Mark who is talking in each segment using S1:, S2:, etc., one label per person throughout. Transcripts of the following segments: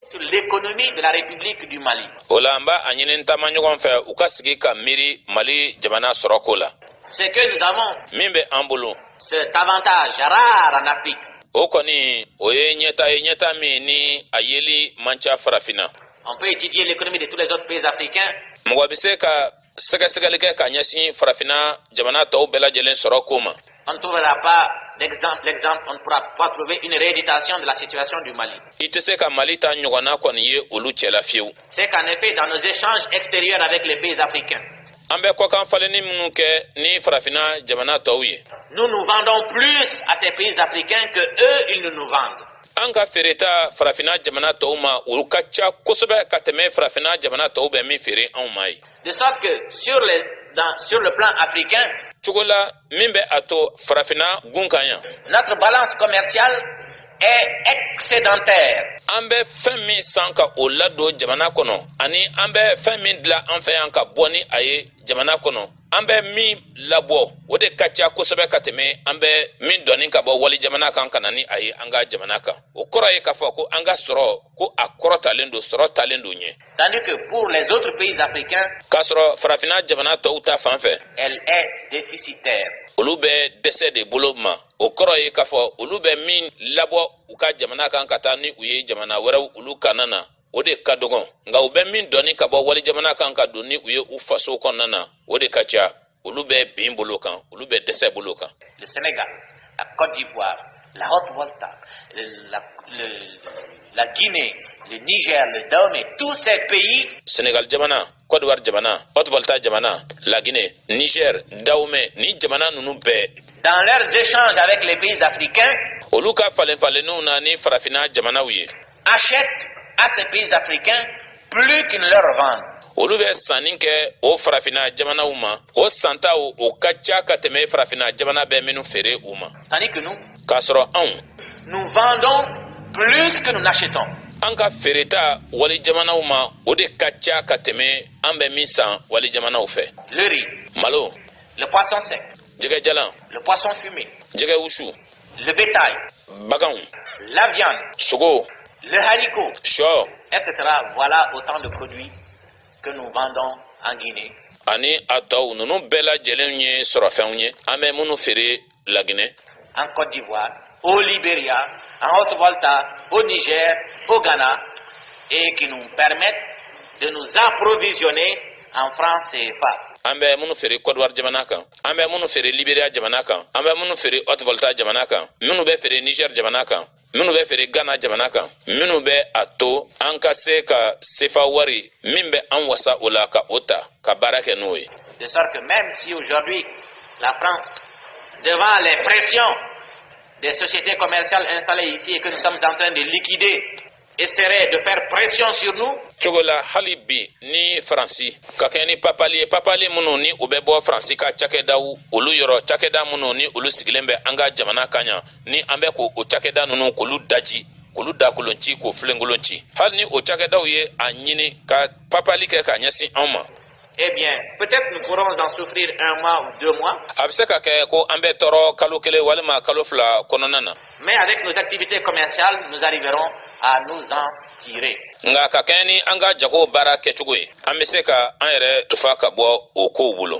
S1: sur l'économie de la République du Mali. O la an b'a a
S2: ɲini taama ɲɔgɔn fɛ u ka sigi ka miiri Mali jamana sɔrɔko la. C'est que nous
S1: avons. Min bɛ an bolo.
S2: Cet
S1: avantage rare en Afrique. O
S2: kɔni o ye ɲɛta ye ɲɛta min ni a yeli man ca farafinna. On peut étudier
S1: l'économie de tous les autres pays africains. Mɔgɔ bɛ se ka
S2: sɛgɛsɛgɛli kɛ ka ɲɛsin farafinna jamana tɔw bɛɛ lajɛlen sɔrɔ ko ma on trouvera pas
S1: l'exemple, l'exemple, on ne pourra pas trouver une rééditation de la situation du Mali. I tɛ se ka Mali ta
S2: ɲɔgɔnna kɔni ye olu cɛla fiyewu.
S1: C'est qu'en effet, dans nos échanges extérieurs avec les pays africains, an bɛ kɔkan falenni minnu kɛ ni farafina jamana tɔw ye. Nous nous vendons plus à ces pays africains que eux ils ne nous vendent. an ka feereta farafinna jamana tɔw ma olu ka ca kosɛbɛ ka tɛmɛ farafinna jamana tɔw bɛ min feere anw ma ye de sorte que sur le, dans, sur le plan africain cogo la min bɛ a to farafinna gun kan yan notre balance commerciale est excédentaire an bɛ
S2: fɛn min san ka o ladon jamana kɔnɔ ani an bɛ fɛn min dilan an fɛ yan ka bɔ ni a ye jamana kɔnɔ an bɛ min labɔ o de ka ca kosɛbɛ ka tɛmɛ an bɛ min doni ka bɔ wali jamana kan ka na ni a ye an ka jamana kan o kɔrɔ ye k'a fɔ ko an ka sɔrɔ ko a kɔrɔtalen don sɔrɔ taalen don ɲɛ
S1: tandis que pour les autres pays africains k'a sɔrɔ
S2: farafinna jamana tɔw ta fan
S1: fɛ elle est déficitaire olu
S2: bɛ dɛsɛ de bolo ma o kɔrɔ ye k'a fɔ olu bɛ min labɔ u ka jamana kan ka taa ni u ye jamana wɛrɛw olu kanna na o de ka dɔgɔn nka u bɛ min doni ka bɔ walijamana kan ka don ni u ye u faso kɔnɔna na o de ka ca olu bɛ bin bolo kan olu bɛ dɛsɛ bolo kan le Sénégal, la
S1: Côte d'Ivoire, la Haute Volta, la, le, la Guinée, le Niger, le Dahomey, tous ces pays. Sénégal
S2: jamana, Côte d'Ivoire jamana, Haute Volta jamana, la Guinée, Niger, Dahomey, ni jamana ninnu bɛɛ. Dans leurs
S1: échanges avec les pays africains. Olu ka falen
S2: falenniw na ni farafina jamanaw ye.
S1: achètent à ces pays africains plus qu'ils ne leur vendent. olu bɛ
S2: sanni kɛ o farafinna jamanaw ma o santaw o ka ca ka tɛmɛ farafinna jamana bɛ minnu feere u ma tandis que nous
S1: k'a sɔrɔ
S2: anw
S1: nous vendons plus que nous n'achetons an ka
S2: feereta wali jamanaw ma o de ka ca ka tɛmɛ an bɛ min san wali jamanaw fɛ le riz malo Le
S1: poisson sec. Jɛgɛ jalan.
S2: Le poisson
S1: fumé. Jɛgɛ
S2: wusu. Le bétail.
S1: Baganw.
S2: La viande.
S1: Sogo.
S2: Le haricot.
S1: Shɔ.
S2: Etc.
S1: Voilà autant de produits que nous vendons en Guinée. Ani a tɔw
S2: ninnu bɛɛ lajɛlen ye sɔrɔfɛnw ye an bɛ minnu feere la Guinée, en Côte
S1: d'Ivoire, au Libéria, en Haute-Volta, au Niger, au Ghana, et qui nous permettent de nous approvisionner en francs CFA. an bɛ minnu
S2: feere kɔdiwari jamana kan an bɛ minnu feere liberiya jamana kan an bɛ minnu feere haute volta jamana kan minnu bɛ feere niger jamana kan minnu bɛ feere gana jamana kan minnu bɛ a to an ka se ka sefa wari min bɛ an wasa o la ka o ta ka baara kɛ n'o ye de sorte que même
S1: si aujourd'hui la France devant les pressions des sociétés commerciales installées ici et que nous sommes en train de liquider essaierait de faire pression sur nous. cogo la hali
S2: bi ni faransi ka kɛɲɛ ni papali ye papali minnu ni u bɛ bɔ faransi ka cakɛdaw olu yɔrɔ cakɛda minnu ni olu sigilen bɛ an ka jamana kan yan ni an bɛ k'o cakɛda ninnu k'olu daji k'olu dakolon ci k'o filenkolon ci hali ni o cakɛdaw ye a ɲini ka papali kɛ ka ɲɛsin anw ma Eh bien,
S1: peut-être nous pourrons en souffrir un mois ou deux mois. A bɛ se ka kɛ ko
S2: an bɛ tɔɔrɔ kalo kelen walima kalo fila kɔnɔna na. Mais avec
S1: nos activités commerciales, nous arriverons à nous en tirer. Nka ka kɛɲɛ ni
S2: an ka jago baara kɛcogo ye, an bɛ se ka an yɛrɛ tufa ka bɔ o kow bolo.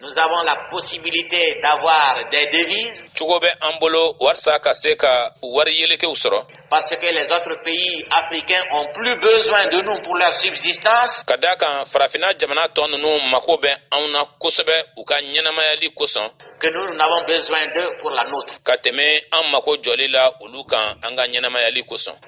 S2: Nous avons la
S1: possibilité d'avoir des devises. Cogo bɛ an bolo
S2: walasa ka se ka wari yelekew sɔrɔ. Parce que les autres
S1: pays africains ont plus besoin de nous pour leur subsistance. Ka d'a kan farafinna
S2: jamana tɔ ninnu mako bɛ anw na kosɛbɛ u ka ɲɛnamayali kosɔn. Que nous n'avons
S1: besoin d'eux pour la nôtre. Ka tɛmɛ an mako
S2: jɔli la olu kan an ka ɲɛnamayali kosɔn.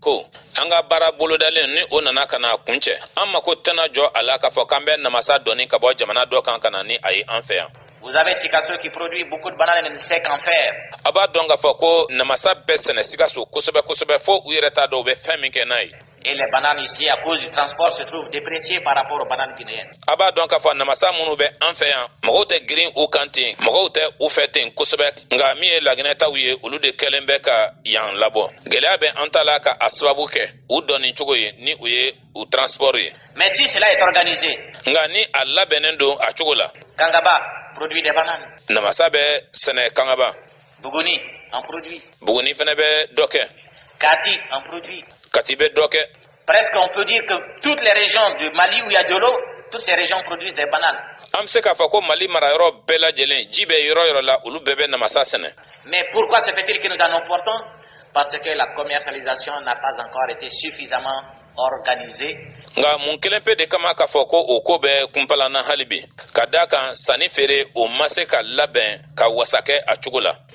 S2: ko an ka baara bolodalen ni o nana ka na kuncɛ an mako tɛna jɔ a la k'a fɔ k'an bɛ namasa doni ka bɔ jamana dɔ kan ka na ni a ye an fɛ yan Vous avez Sikasso qui
S1: produit beaucoup de bananes mais ne sait qu'en faire. A b'a dɔn k'a fɔ
S2: ko namasa bɛ sɛnɛ Sikasso kosɛbɛ kosɛbɛ fo u yɛrɛ t'a dɔn u bɛ fɛn min kɛ n'a ye. Et les bananes
S1: ici, à cause du transport, se trouvent dépréciées par rapport aux bananes guinéennes. A b'a dɔn k'a fɔ namasa
S2: minnu bɛ an fɛ yan, mɔgɔw tɛ girin u kan ten, mɔgɔw tɛ u fɛ ten kosɛbɛ. nka min ye laginɛ taw ye olu de kɛlen bɛ ka yan labɔ gɛlɛya bɛ an ta la ka a sababu kɛ u doni cogo ye ni u ye u transport ye mais si cela est
S1: organisé nka ni a
S2: labɛnnen don a cogo la kangaba
S1: produit des bananes namasa
S2: bɛ sɛnɛ kangaba buguni
S1: en produit buguni fana bɛ
S2: dɔ kɛ kati en
S1: produit kati bɛ dɔ kɛ
S2: Presque on peut dire
S1: que toutes les régions du Mali où il y a de l'eau, toutes ces régions produisent des bananes. An bɛ se k'a fɔ ko
S2: Mali mara yɔrɔ bɛɛ lajɛlen ji bɛ yɔrɔ yɔrɔ la olu bɛɛ bɛ namasa sɛnɛ. Mais pourquoi se
S1: fait-il que nous en importons? Parce que la commercialisation n'a pas encore été suffisamment organisée. Nka mun
S2: kelen pe de kama k'a fɔ ko o ko bɛ kunpalanna hali bi ka d'a kan sanni feere o ma se ka labɛn ka wasa kɛ a cogo la.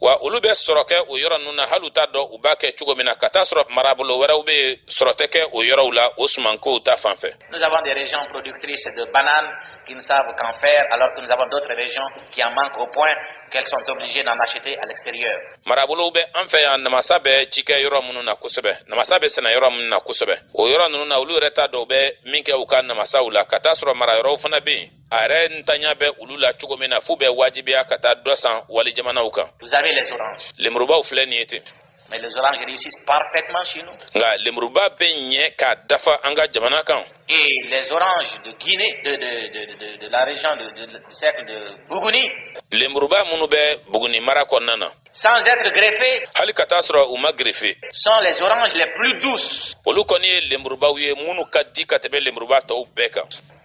S2: wa olu bɛ sɔrɔ kɛ o yɔrɔ ninnu na hali u t'a dɔn u b'a kɛ cogo min na ka taa sɔrɔ marabolo wɛrɛw bɛ yen sɔrɔ tɛ kɛ o yɔrɔw la o sumankow ta fan fɛ. nous avons des régions
S1: productrices de bananes qui ne savent qu'en faire alors que nous avons d'autres régions qui en manquent au point qu'elles sont obligées d'en acheter à l'extérieur. marabolow bɛ an
S2: fɛ yan namasa bɛ ci kɛ yɔrɔ minnu na kosɛbɛ namasa bɛ sɛnɛ yɔrɔ minnu na kosɛbɛ o yɔrɔ ninnu na olu yɛrɛ t'a dɔn u bɛ min kɛ u ka namasaw la ka taa sɔrɔ marayɔrɔw fana bɛ yen a yɛrɛ ntanya bɛ olu la cogo min na f'u bɛ wajibiya ka taa dɔ san wali jamanaw
S1: kan lemurubaw filɛ nin ye ten nka lemuruba bɛ
S2: ɲɛ k'a dafa an ka jamana kan
S1: lemuruba
S2: minnu bɛ buguni mara kɔnɔna na sans être
S1: greffé hali ka t'a sɔrɔ u
S2: ma gerefe sont les oranges
S1: les plus douces olu kɔni ye
S2: lenburubaw ye minnu ka di ka tɛmɛ lenburuba tɔw bɛɛ kan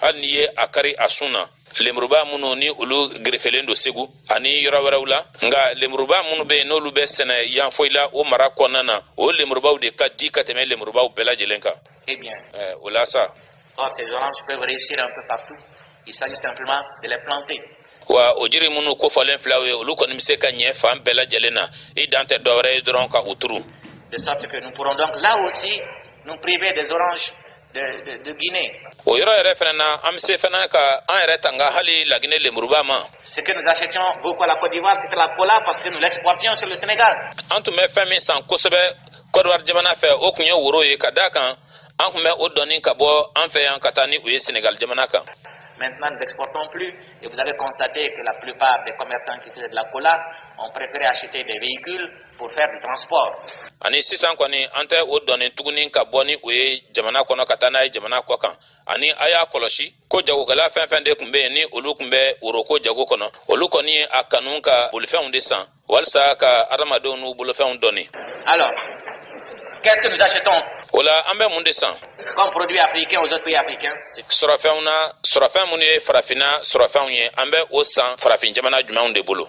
S2: hali n'i ye a kari a sun na lemuruba minnu ni olu gerefelen don segu ani yɔrɔ wɛrɛw la nka lemuruba minnu bɛ yen n'olu bɛ sɛnɛ yanfolila o mara kɔnɔna na o lemurubaw de ka di ka tɛmɛ lemurubaw bɛɛ lajɛlen kan eh bien, o
S1: la sa wa o
S2: jiri minnu kofɔlen filɛ o ye olu kɔni bɛ se ka ɲɛ fan bɛɛ lajɛlen na i dan tɛ dɔwɛrɛ ye dɔrɔn ka u turu de sorte que nous
S1: pourrons donc là aussi nous priver des oranges o yɔrɔ yɛrɛ
S2: fana na an bɛ se fana ka an yɛrɛ tanga hali lagine lemuruba
S1: ma an tun bɛ fɛn min
S2: san kosɛbɛ kɔdiwari jamana fɛ o tun ye woro ye ka d'a kan an tun bɛ o doni ka bɔ an fɛ yan ka taa ni u ye senegali jamana kan Maintenant, nous n'exportons
S1: plus et vous avez constaté que la plupart des commerçants qui faisaient de la cola ont préféré acheter des véhicules ani sisan
S2: kɔni an tɛ o doni tuguni ka bɔ ni o ye jamana kɔnɔ ka taa n'a ye jamana kɔ kan ani a y'a kɔlɔsi ko jagokɛla fɛn fɛn de tun bɛ yen ni olu tun bɛ woroko jago kɔnɔ olu kɔni ye a kanu ka bolifɛnw de san walisa ka adamadenw n'u bolofɛnw
S1: doni o la an bɛ
S2: mun de
S1: san sɔrɔfɛnw na
S2: sɔrɔfɛn minnu ye farafinna sɔrɔfɛnw ye an bɛ o san farafin jamana jumɛnw de bolo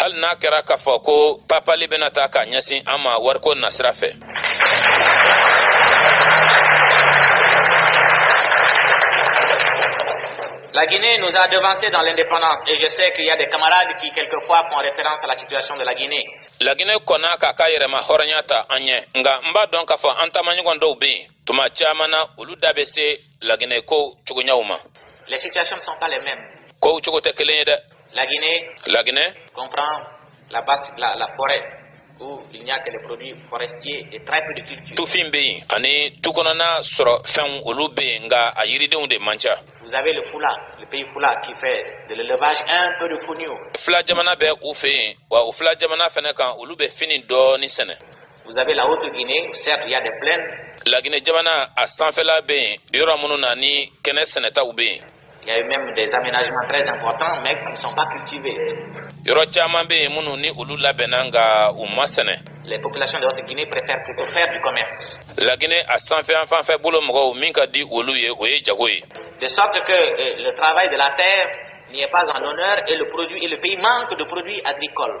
S2: hali n'a kɛra k'a fɔ ko papali bɛna ta k'a ɲɛsin an ma wariko nasira
S1: fɛ La Guinée nous a devancés dans l'indépendance et je sais qu'il y a des camarades qui quelquefois font référence à la situation de la Guinée. lagine kɔnna
S2: k'a ka yɛrɛmahɔrɔnya ta an ɲɛ nka n b'a dɔn k'a fɔ an taamaɲɔgɔn dɔw bɛ yen tuma caman na olu da bɛ se laginɛ kow cogoɲaw
S1: ma kow cogo tɛ kelen
S2: ye
S1: dɛ laginɛ tufin bɛ yen
S2: ani tu kɔnɔna sɔrɔfɛnw olu bɛ yen nka a yiridenw de man
S1: ca fila jamana bɛ
S2: u fɛ yen wa u fila jamana fana kan olu bɛ fini dɔɔni sɛnɛ Vous avez la haute
S1: Guinée, certes il y a des plaines. La Guinée jamana
S2: a sanfɛla bɛ yen yɔrɔ minnu na ni kɛnɛ sɛnɛtaw bɛ yen. Il y a eu même
S1: des aménagements très importants mais qui ne sont pas cultivés. Yɔrɔ caman
S2: bɛ yen minnu ni olu labɛnna nka u ma sɛnɛ. Les populations de
S1: haute Guinée préfèrent plutôt faire du commerce. La Guinée a sanfɛ
S2: an fanfɛ bolo mɔgɔw min ka di olu ye o ye jago ye. De sorte que
S1: euh, le travail de la terre n'y est pas en honneur et le produit et le pays manque de produits agricoles.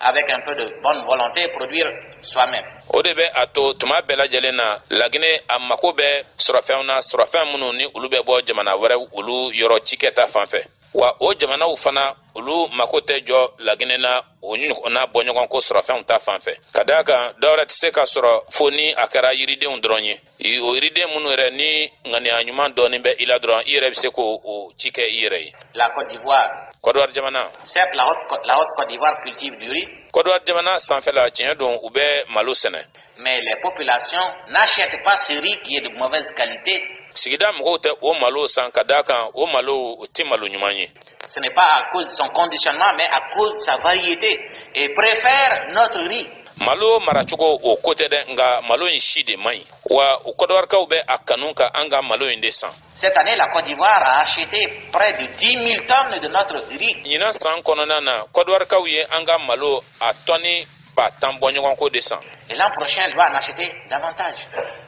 S1: avec un peu de bonne volonté produire soi-même. o de bɛ a
S2: to tuma bɛɛ lajɛlen na lagine a mako bɛ sɔrɔfɛnw na sɔrɔfɛn minnu ni olu bɛ bɔ jamana wɛrɛ olu yɔrɔ cikɛ ta fan fɛ wa o jamanaw fana olu mako tɛ jɔ lagine na o ɲɔgɔnna bɔɲɔgɔnko sɔrɔfɛnw ta fan fɛ ka d'a kan dɔwɛrɛ tɛ se ka sɔrɔ fo ni a kɛra yiridenw dɔrɔn ye o yiriden minnu yɛrɛ ni ŋaniya ɲuman dɔɔnin bɛ i la dɔrɔn i yɛrɛ bɛ se k'o ci kɛ i yɛrɛ ye. La Côte
S1: d'Ivoire. Côte d'Ivoire jamana.
S2: Certes la haute la
S1: haute Côte d'Ivoire cultive du riz. Côte d'Ivoire jamana sanfɛla
S2: tiɲɛ don u bɛ malo sɛnɛ. Mais
S1: les populations n'achètent pas ce riz qui est de mauvaise qualité. Sigida mɔgɔw
S2: tɛ o malo san ka d'a kan o malo o tɛ malo ɲuman ye. Ce n'est pas à cause
S1: de son conditionnement mais à cause de sa variété et préfèrent notre riz. malo
S2: maracogo o ko tɛ dɛ nka malo in si de man ɲi wa u Kɔdiwarikaw bɛ a kanu ka an ka malo in de san Cette année, la Côte
S1: d'Ivoire a acheté près de 10 000 tonnes de notre riz. Ɲinan san kɔnɔna
S2: na, Kɔdiwarikaw ye an ka malo a tɔni ba tan bɔɲɔgɔnko de san. Et l'an prochain, elle
S1: va en acheter davantage.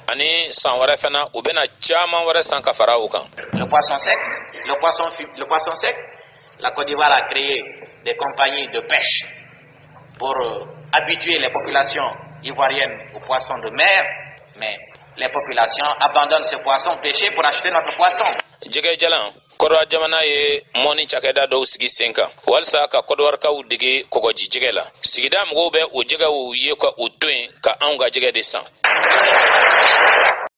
S2: Ani san wɛrɛ fana, u bɛna caman wɛrɛ san ka fara o kan. Le poisson sec,
S1: le poisson, le poisson sec, la Côte d'Ivoire a créé des compagnies de pêche pour euh, habituer les populations ivoiriennes aux poissons de mer, mais les populations abandonnent ce poisson pêché pour acheter notre poisson.
S2: jɛgɛ jalan kɔdɔwari jamana ye mɔni cakɛda dɔw sigi sen kan walisa ka kɔdɔwarikaw dege kɔgɔji jɛgɛ la sigida mɔgɔw bɛ o jɛgɛw ye ka u to yen ka anw ka jɛgɛ de san